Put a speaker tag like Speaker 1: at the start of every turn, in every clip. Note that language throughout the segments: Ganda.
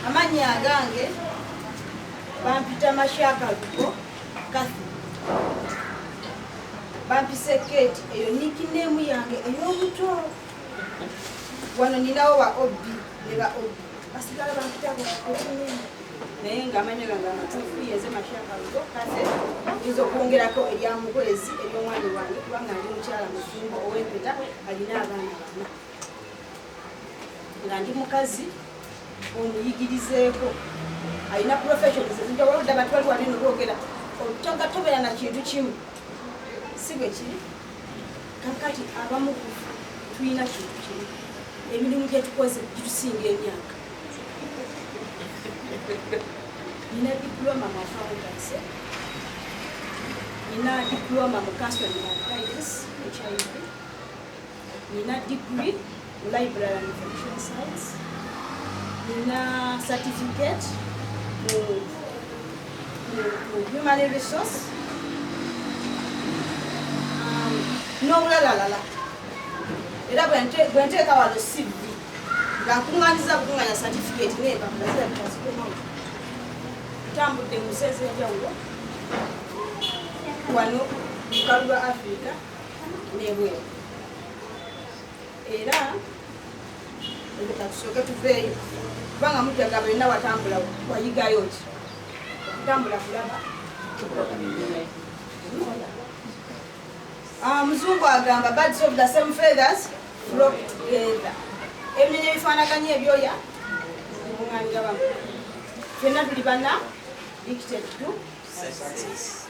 Speaker 1: amannya agange bampita mashaka lugo kathy bampise kate eyo nikineemu yange ey'obuto wano ninawo ba ob ne ba ob basigala bampita bwakunyini naye nga amanyo gange amatuufu yenze mashaka lugo kase yinza okwongerako erya mukwezi eryomwami wange kubanga ndi mukyala mufumbo owempeta alina abaana bana nga ndi mukazi omuyigirizeeko alina professions ezinjawaludde abantu bali wali nobwogera otoga tobeera na kintu kimu si bwe kiri kakati abamu kufa tulina kintu kimu emirimu gyetukoze gitusinga emyaka nina diploma mu accountancy nina diploma mu counseling and guidance hiv nina degree library and information science nina certificate mu human resource um, n'obulalalala era bwenteeka wano cv nga nkuŋŋanyiza kukuŋŋanya certificate n'empapula zirabika zikoma ntambudde mu nsi ez'enjawulo wano mu kalu lwa africa n'ebweru era leka tusooke tuveeyo kubanga mujjaga byonna watambula wayigayo ki okutambula kulaba ah, muzungu agamba birds of the same feathers flock together ebinyonyi ebifaanaganya ebyoya bimuŋanira bamu fenna tuli bana dictate to success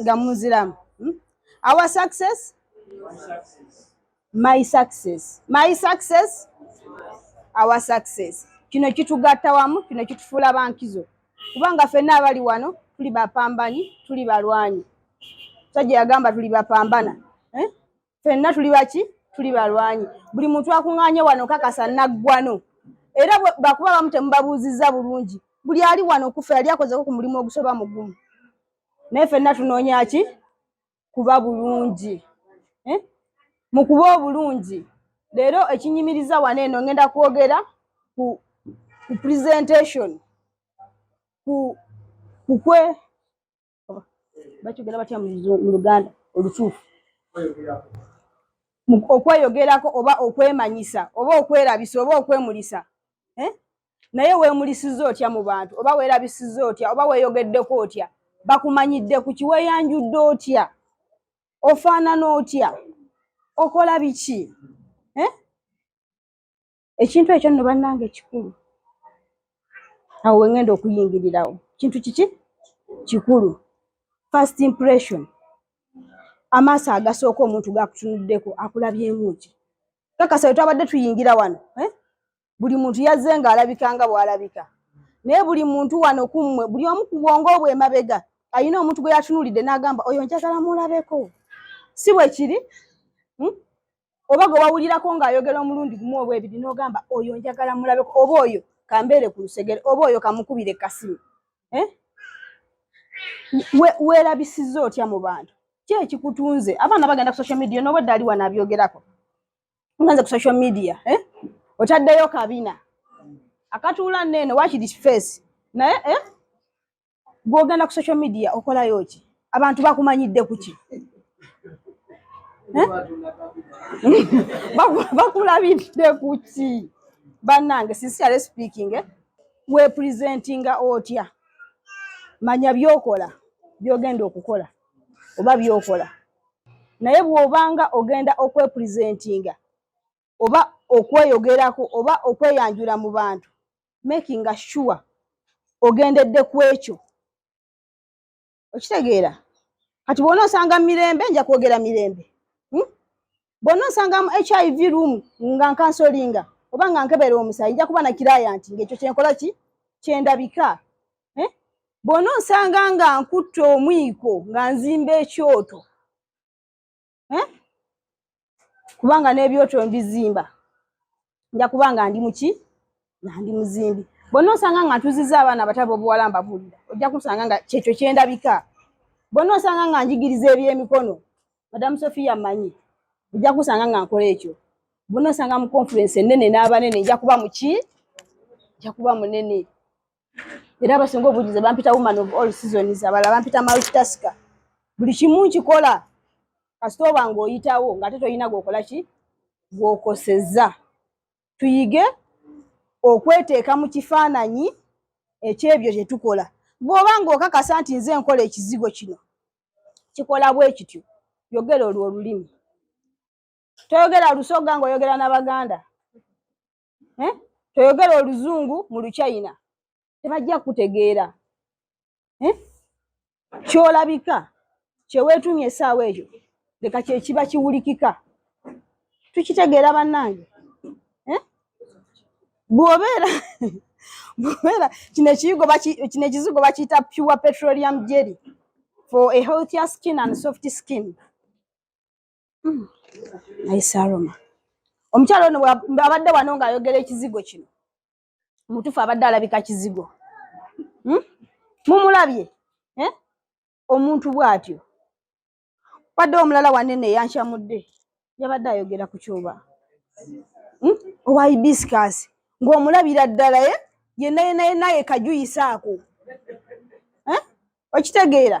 Speaker 1: nga muziramu hmm? our success my success my success our success kino kitugatta wamu kino kitufuula bankizo kubanga fenna abali wano tuli bapambanyi tuli balwanyi sajja yagamba tuli bapambana eh? fenna tuli baki tuli balwanyi buli muntu akuŋŋaanye wano kakasa naggwano era bakuba bamu temubabuuzizza bulungi buli ali wano kufa yali akozeko ku mulimu ogusoba mugumu naye fenna tunoonya ki kuba bulungi eh? mu kuba obulungi leero ekinyimiriza wano eno ngenda kwogera ku presentation ku kukwe bakyogera batya mu luganda olutuufu okweyogerako oba okwemanyisa oba okwerabisa oba okwemulisa eh? naye weemulisiza otya mu bantu oba weerabisiza otya oba weeyogeddeko otya bakumanyidde ku kiweeyanjudde otya ofaanana otya okola biki eh? ekintu ekyo nno bannange kikulu awo wengenda okuyingirirawo kintu kiki kikulu first impression amaaso agasooka omuntu gakutunuddeko akulabyemuki kakasa wetwabadde tuyingira wano eh? buli muntu yazze nga alabika nga bwalabika naye buli muntu wano kummwe buli omu ku bwongo obwo emabega alina omuntu gwe yatunulidde n'agamba oyo njagala mulabeko si bwe kiri hmm? oba gwe wawulirako ng'ayogera omulundi gumu oba ebiri n'ogamba oyo njagala mulabeko oba oyo kambeere ku lusegere oba oyo kamukubire kasimu eh? weerabisiza otya mu bantu ki ekikutunze abaana bagenda ku social media noba ddaali wano abyogerako nganze ku social media eh? otaddeyo kabina akatuula neeno wakiri face naye eh? gwogenda ku social media okolayo ki abantu bakumanyidde kuki eh? bakulabidde kuki banange sincerely speaking eh? we presentinga otya manya byokola byogenda okukola oba byokola naye bwobanga ogenda okwepresentinga oba okweyogerako oba okweyanjula mu bantu making a sure ogendedde ku ekyo okitegeera kati bwona osanga mirembe nja kwogera mirembe hmm? bwona osanga mu hiv room nga nkansolinga oba nga nkebera omusayi nja kuba nakiraya nti ngaekyo kyenkola ki kyendabika eh? bwona osanga nga nkutte omwiko nga nzimba ekyoto eh? kubanga n'ebyoto mbizimba nja kubanga ndi muki nandi muzimbi bonna osanga nga ntuziza abaana abatabo obuwala mbabuulira ojja kusanga nga kyekyo kyendabika bonna osanga nga njigiriza ebyemikono madamu sofia manyi ojja kusanga nga nkola ekyo bonna osanga mu conference enene n'abanene nja kuba muki nja kuba munene era abasinga obujuze bampita woman of all seasons abala bampita multitasker buli kimu nkikola kasita oba ng'oyitawo ng'ate tolina gwokola ki gwokoseza tuyige okweteeka mu kifaananyi ekyebyo kye tukola bw'oba ng'okakasa nti nze nkola ekizigo kino kikola bwe kityo yogera olwo olulimi toyogera lusoga ng'oyogera n'abaganda eh? toyogera oluzungu mu luchina tebajja kutegeera eh? kyolabika kyeweetumya esaawa ekyo leka kyekiba kiwulikika tukitegeera bannange eh? bwobeera bwobeera kino ekizigo bakiyita pure petroleum jelly for a healthier skin and soft skin Hmm. naye saroma omukyalo ono abadde wano ng'ayogera ekizigo kino mutufu abadde alabika kizigo hmm? mumulabye eh? omuntu bw'atyo wadde omulala wanene eyankyamudde yabadde ayogera ku kyoba hmm? owa hibiscus ng'omulabira ddala ye eh? yenna yenna yenna yekajuyisaako eh? okitegeera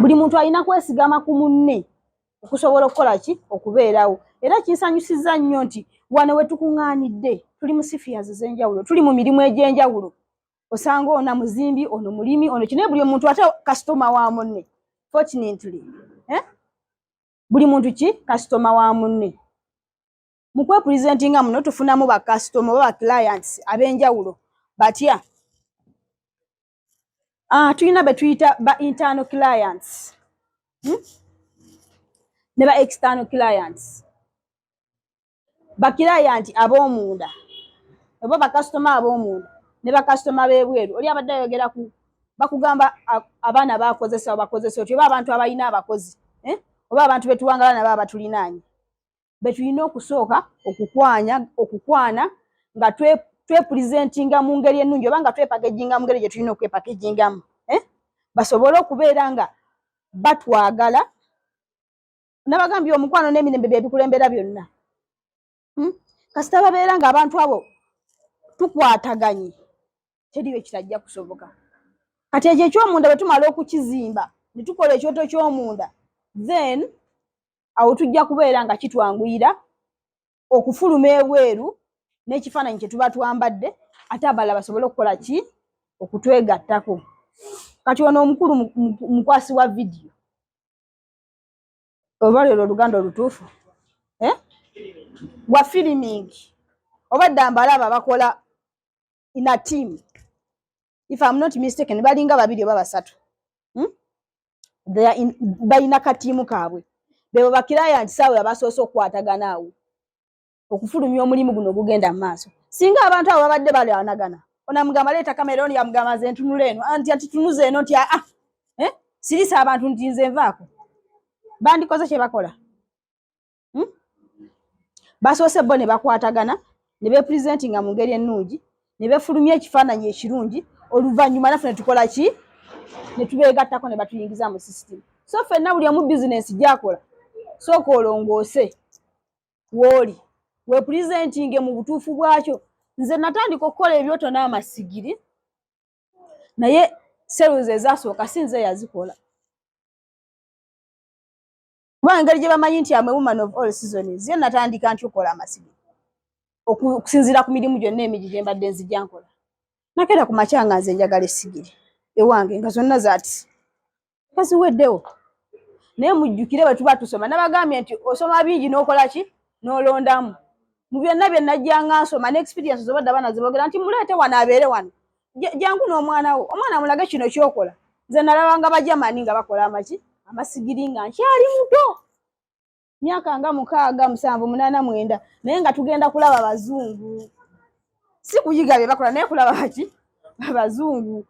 Speaker 1: buli muntu alina kwesigama ku munne okusobola okukola ki okubeerawo era kinsanyusizza nnyo nti wano we tukuŋŋaanidde tuli mu sifias ez'enjawulo tuli mu mirimu egy'enjawulo osanga ona muzimbi ono mulimi ono kinaye buli omuntu ate kasitoma wa munne fortunately eh? buli muntu ki kasitoma wa munne mu kwepuresentinga muno tufunamu bakasitoma oba baclients ab'enjawulo batya Ah, tulina be tuyita ba internal clients hmm? ne ba external clients bakirayanti ab'omunda oba bakasitoma ab'omunda ne bakasitoma b'ebweru oli abadde ayogera ku bakugamba abaana bakozesa bakozesa otyo oba abantu abalina abakozi eh? oba abantu betuwangala nabo abatulinaanye betulina okusooka okukwanya okukwana nga twepulizentinga mu ngeri ennungi oba nga twepakejinga mu ngeri gye tulina okwepakejingamu eh? basobole okubeera nga batwagala nabagambye omukwano n'emirembe byebikulembera byonna hmm? kasita babeera nga abantu abo tukwataganye teriyo ekitajja kusoboka kati ekyo ekyomunda bwe tumala okukizimba ne tukola ekyoto ky'omunda then awo tujja kubeera nga kitwanguyira okufuluma ebweru n'ekifaananyi kye tuba twambadde ate abalala basobole okukola ki okutwegattako kati ono omukulu mukwasi wa vidiyo oba lero oluganda olutuufu eh? wa filimingi oba dda mbalaba bakola in a team if I'm not mistaken balinga babiri oba basatu hmm? they are in bayina katiimu kaabwe bebo bakiraya nti saawe abasoose okukwatagana awo okufulumya omulimu guno ogugenda mu maaso singa abantu abo babadde balwanagana onamugamba leeta kamera ono yamugamba nze ntunula eno anti ah, atitunuza eno nti aa ah, eh? sirisa abantu nti nze nvaako bandikoze kye bakola hmm? basoose bo ne bakwatagana ne bepresentinga mu ngeri ennungi ne befulumya ekifaananyi ekirungi oluvannyuma naffe ne tukola ki ne tubeegattako ne batuyingiza mu system so fenna buli omu bizinensi gyakola sooka olongoose wooli wepresentinge mu butuufu bwakyo nze natandika okukola ebyoto n'amasigiri naye seruzi ezasooka si nze yazikola kuba engeri gye bamanyi nti amwe woman of all seasons ye natandika nti okola amasibi okusinziira ku mirimu gyonna emigi gye mbadde nzija nkola nakeera ku makya nga nze njagala esigiri ewange nga zonna zati nga ziweddewo naye mujjukire bwe tuba tusoma nabagambye nti osoma bingi n'okola ki n'olondamu mu byonna bye najjanga nsoma ne experience zobadde abaana zibogera nti muleete wano abeere wano jangu n'omwana wo omwana mulage kino kyokola nze nalabanga bajamani nga bakola amaki amasigiri nga nkyali muto myaka nga mukaaga musanvu munaana mwenda naye nga tugenda kulaba bazungu si kuyiga bye bakola naye kulaba baki abazungu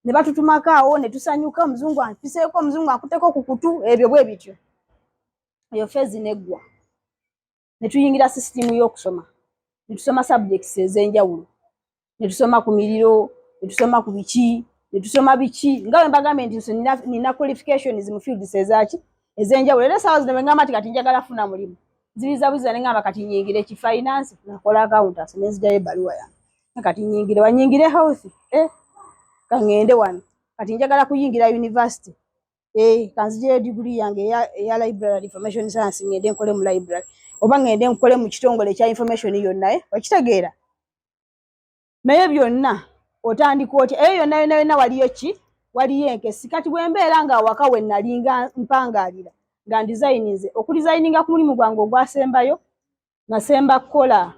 Speaker 1: ne batutumako awo ne tusanyuka omuzungu ampiseeko omuzungu akuteko ku kutu ebyo bwe bityo eyo feezi neggwa ne tuyingira sisitimu y'okusoma ne tusoma subjects ez'enjawulo ne tusoma ku miriro ne tusoma ku biki ne tusoma biki nga bwe mbagambye nti nso nina qualifications mu fields ezaaki ez'enjawulo era essaawa zino bwe ngamba nti kati njagala funa mulimu nzibizabuziza ne ngamba kati nyingire ki finance nakola accountancy ne nzijayo ebbaluwa yange kati nyingire wanyingire health eh? kaŋŋende wano kati njagala kuyingira university eh kanzije degree yange ya, ya library information science ngende nkole mu library oba ngende nkole mu kitongole kya information yonna eh okitegeera naye byonna otandika otya eyo yonna yonna yonna waliyo ki waliyo enkesi kati bwembeera nga awaka we nalinga mpangaalira nga ndizayininze okudizayininga ku mulimu gwange ogwasembayo nasemba kukola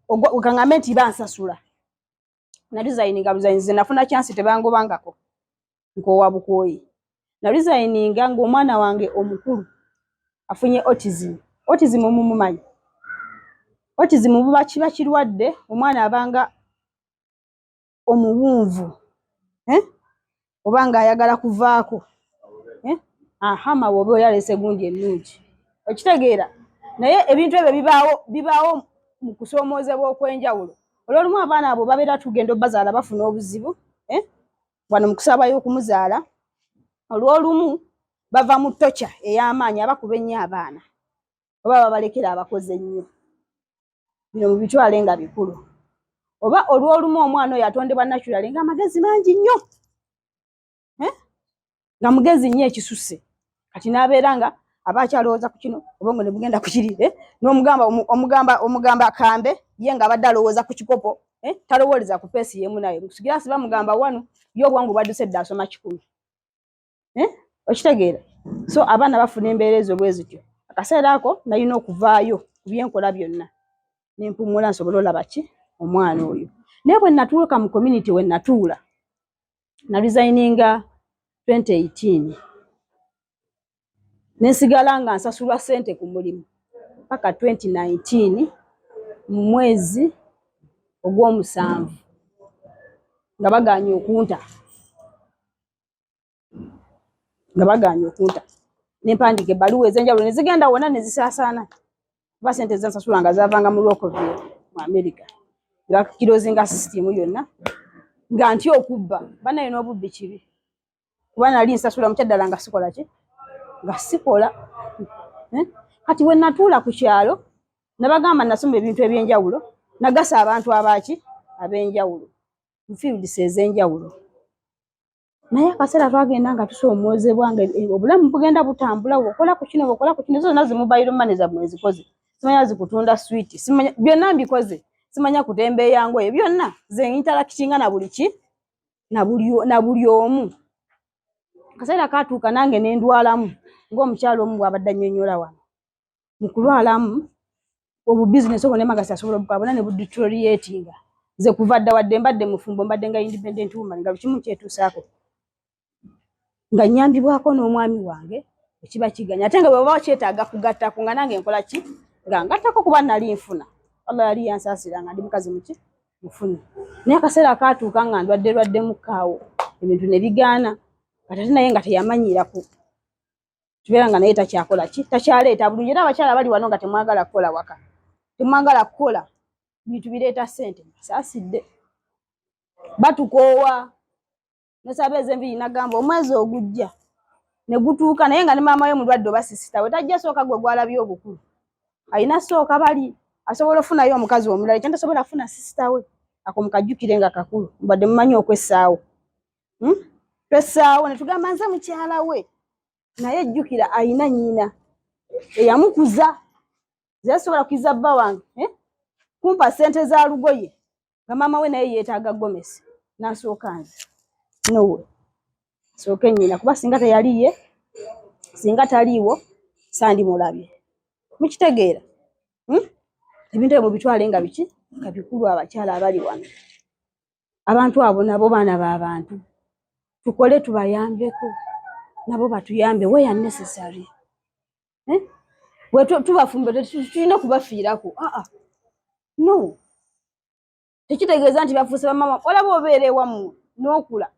Speaker 1: okangambe nti bansasula na designinga design ze nafuna chance tebangobangako nkowa bukoyi na designinga ng'omwana wange omukulu afunye autism autism omumumanyi autism buba kiba kirwadde omwana abanga omuwunvu eh? oba nga ayagala kuvaako eh? aha mawe oba oyalese gundi ennungi okitegeera naye ebintu ebyo bibaawo bibaawo mu kusoomoozebwa okw'enjawulo olwolumu abaana abo babeera tugenda obazaala bafuna obuzibu eh? wano mu kusabayo okumuzaala olwolumu bava mu tokya ey'amaanyi abakuba ennyo abaana oba babalekera abakozi ennyo bino mubitwale nga bikulu oba olwolumu omwana oyo atondebwa naturally nga amagezi mangi nnyo eh? nga mugezi nnyo ekisusse kati n'abeera nga aba akyalowooza ku kino obongo ne bugenda ku kiri eh? n'omugamba omugamba omugamba akambe ye nga abadde alowooza ku kikopo eh? talowooleza ku peesi yeemu naye sigirasi bamugamba wanu ye obwangu bwadduse dda asoma kikumi eh? okitegeera so abaana bafuna embeera ezo bwe zityo akaseera ako nalina okuvaayo ku byenkola byonna nempumula nsobole olaba ki omwana oyo naye bwe natuuka mu community we natuula na resigninga 2018 nensigala nga nsasulwa sente ku mulimu paka 2019 mu mwezi ogw'omusanvu nga baganye okunta nga bagaanye okunta ne mpandiika ebbaluwa ez'enjawulo ne zigenda wonna ne zisaasaana kuba sente ze nsasula nga zaavanga mu Rockville mu Amerika ne bakirozinga sisitiimu yonna nga nti okubba banaye n'obubbi kibi kuba nali nsasula mu kyaddala nga sikola ki nga sikola eh? kati we natuula ku kyalo nabagamba nasoma ebintu eby'enjawulo nagasa abantu abaaki ab'enjawulo mu fields ez'enjawulo naye akaseera twagenda nga tusoomoozebwa nga e, e, obulamu bugenda butambula okola ku kino okola ku kino zonna zimubayiro mane zammwe ezikoze simanya zikutunda switi simanya byonna mbikoze simanya kutemba eyango eyo byonna ze interakitinga na buli ki na buli omu akaseera katuuka nange nendwalamu ng'omukyalo omu bwabadde annyonnyola wano mu kulwalamu obwo bizinesi obwo nemagasi asobola obukabona ne buditoriatinga nze kuva dda wadde mbadde mufumbo mbadde nga independent woman nga lukimu kyetuusaako nga nyambibwako n'omwami wange ekiba kiganya ate nga bweba bakyetaaga kugattako nga nange nkola ki nga ngattako kuba nali nfuna allah yali yansaasira nga ndi mukazi muki mufuni naye akaseera akaatuuka nga ndwadde lwaddemu kaawo ebintu ne bigaana katate naye nga teyamanyiiraku tubeera nga naye takyakola ki takyaleeta bulungi era abakyala bali wano nga temwagala kukola waka temwagala kukola bintu bireeta sente saasidde batukoowa nosaba ezenviri nagamba omwezi ogujja negutuuka naye nga ne maama we mulwadde oba sisitawe tajja sooka gwe gwalabye obukulu alina sooka bali asobola ofunayo omukazi omulala ekyo ntasobola afuna sisitawe ako mukajjukire nga kakulu mbadde mumanyi okwessaawo hmm? twesaawo netugamba nze mukyala we naye jjukira ayina nyina eyamukuza zesobola kuiza bba wange eh? kumpa sente za lugoye nga maama we naye yetaaga gomesi nasooka nze nowe sooke nyina kuba singa teyaliye singa taliiwo sandimulabye mukitegeera hmm? ebintu ebyo mubitwale nga biki nga bikulu abakyala abali wano abantu abo nabo baana ba bantu tukole tubayambeko nabo batuyambe we are necessary eh? we tubafumbire tulina okubafiirako aa ah, ah. no tekitegeeza nti bafuuse bamama olaba obeera ewamu n'okula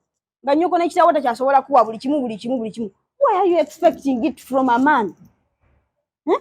Speaker 1: nga nyoko nekitawo takyasobola kuwa buli kimu buli kimu buli kimu why are you expecting it from a man eh?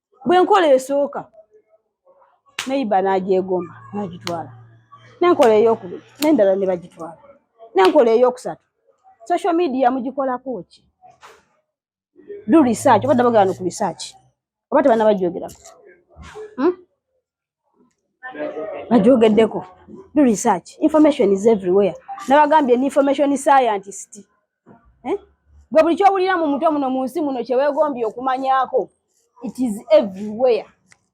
Speaker 1: bwe nkola esooka neyiba n'agyegomba n'agitwala nenkola eyokubiri nendala ne bagitwala nenkola eyokusatu social media mugikolako ki do research obadde bagala no ku research oba tebanabajogeraku hmm? agyogeddeko do research information is everywhere nabagambye ni information scientist eh? gwe buli kyowulira mu mutwe muno mu nsi muno kyewegombye okumanyako it is everywhere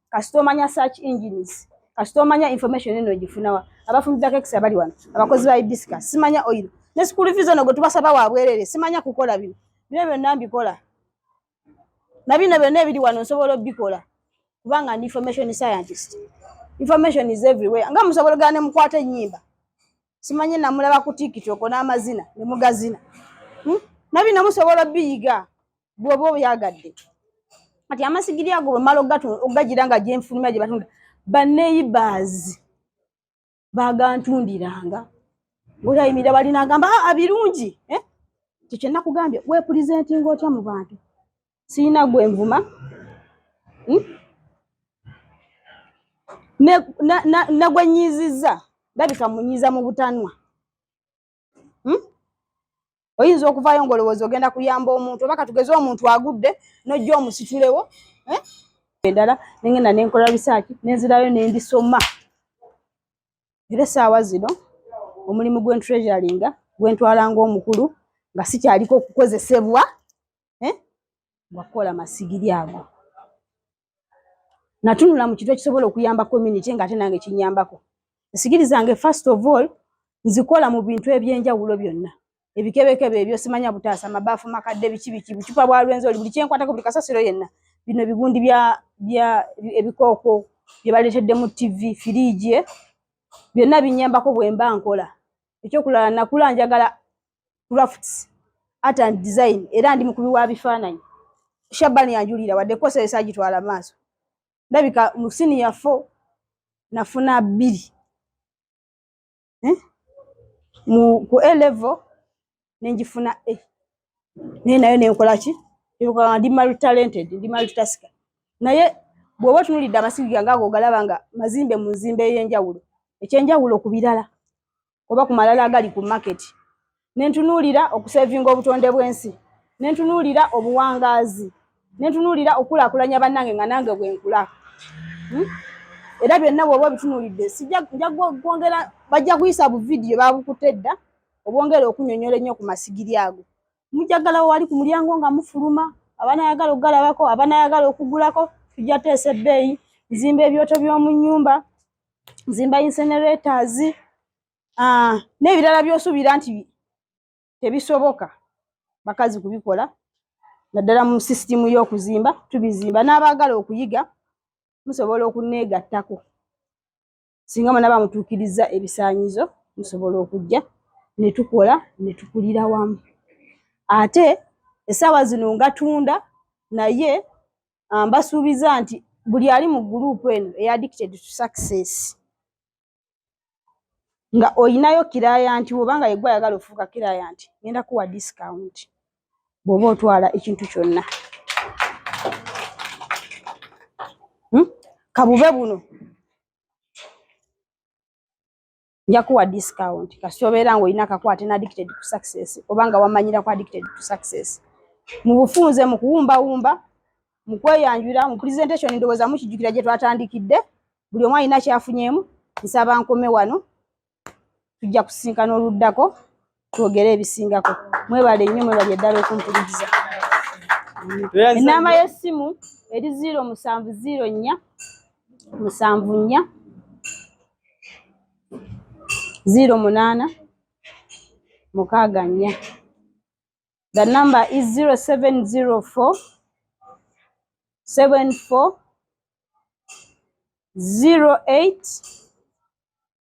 Speaker 1: kasita omanya search engines kasita omanya information eno ogifunawa abafumbi ba kekisi abali wano abakozi ba ibisika simanya oil ne school fees ono gwe tubasaba wabwerere simanya kukola bino bino byonna mbikola na bino byonna ebiri wano nsobola obikola kubanga ndi information scientist information is everywhere nga musobola gane mukwata enyimba simanyi namulaba ku tiktok n'amazina ne mugazina hmm? na bino musobola biyiga bwoba obyagadde kati amasigiri ago bwemala ogagira nga gyenfulumya gye batunda baneibaazi bagantundiranga ngaotayimirira balina agamba aa ah, birungi eh? ekyo kyenna kugambye wepulizentinga otya mu bantu sirina gwe nvuma hmm? negwenyiizizza ndabika munyiiza mu butanwa hmm? oyinza okuvaayo ngaolowooza ogenda kuyamba omuntu oba katugeze omuntu agudde nojja omusitulewo eh? endala nengenda nenkola risaaki nenzirayo nendisoma era esaawa zino omulimu gwentreasuringa gwentwala ngaomukulu nga sikyaliko okukozesebwa eh? ngakukola masigiri ago natunula mu kintu ekisobola okuyamba community nga ate nange kinyambako esigiri zange first of all nzikola mu bintu ebyenjawulo byonna ebikebekebe ebyo simanya butaasa mabaafu makadde biki biki bucupa bwa lwenzi oli buli kyenkwatako buli kasasiro yenna bino bigundi bya bya ebikooko bye baleetedde mu tv firiigi eh? byonna binyambako bwemba nkola ekyokulala nakula njagala crafts art and design era ndi mukubi wa bifaananyi shabani yanjulira wadde kosa esagitwala maaso ndabika mu siniya fo nafuna bbiri eh? mu ku a level nenjifuna a naye nayo nenkola ki eyokaa ndi multi talented ndi multi tasker naye bw'oba otunulidde amasiga gange ago ogalaba nga mazimbe mu nzimba ey'enjawulo ekyenjawulo ku birala oba ku malala agali ku market nentunuulira okusevinga obutonde bw'ensi nentunuulira obuwangaazi nentunuulira okukulakulanya bannange nga nange bwenkula hmm? era byonna bwoba obitunuulidde sijakwongera bajja kuyisa bu vidiyo babukutte edda obwongere okunyonyola ennyo ku masigiri ago mujagalawo wali ku mulyango nga mufuluma abanayagala okugalabako abanayagala okugulako tujja teesa ebbeeyi nzimba ebyoto by'omu nnyumba zimba incinerators ah, n'ebirala by'osuubira nti tebisoboka bakazi kubikola naddala mu sisitimu y'okuzimba tubizimba n'abaagala okuyiga musobola okunneegattako singa munaba mutuukirizza ebisaanyizo musobola okujja ne tukola ne tukulira wamu ate essaawa zino ngatunda naye ah, mbasuubiza nti buli ali mu guruupu eno eya addicted to success nga olinayo kirayanti woba nga yegwe ayagala ofuuka kirayanti ngenda kuwa discount bwoba otwala ekintu kyonna hmm? kabube buno nja kuwa discount kasita obeera ng'olina akakwate na addicted to success oba nga wamanyira ku addicted to success mu bufunze mu kuwumbawumba mu kweyanjula mu presentation ndowooza mukijjukira gye twatandikidde buli omu alina kyafunyeemu nsaba nkome wano tujja kusisinkana oluddako twogere ebisingako mwebale nnyo mwebale ddala okumpuliriza enamba y'essimu eri ziiro musanvu ziiro nnya musanvu nnya ziiro munaana mukaaga nnya the number is zero seven zero four seven four zero eight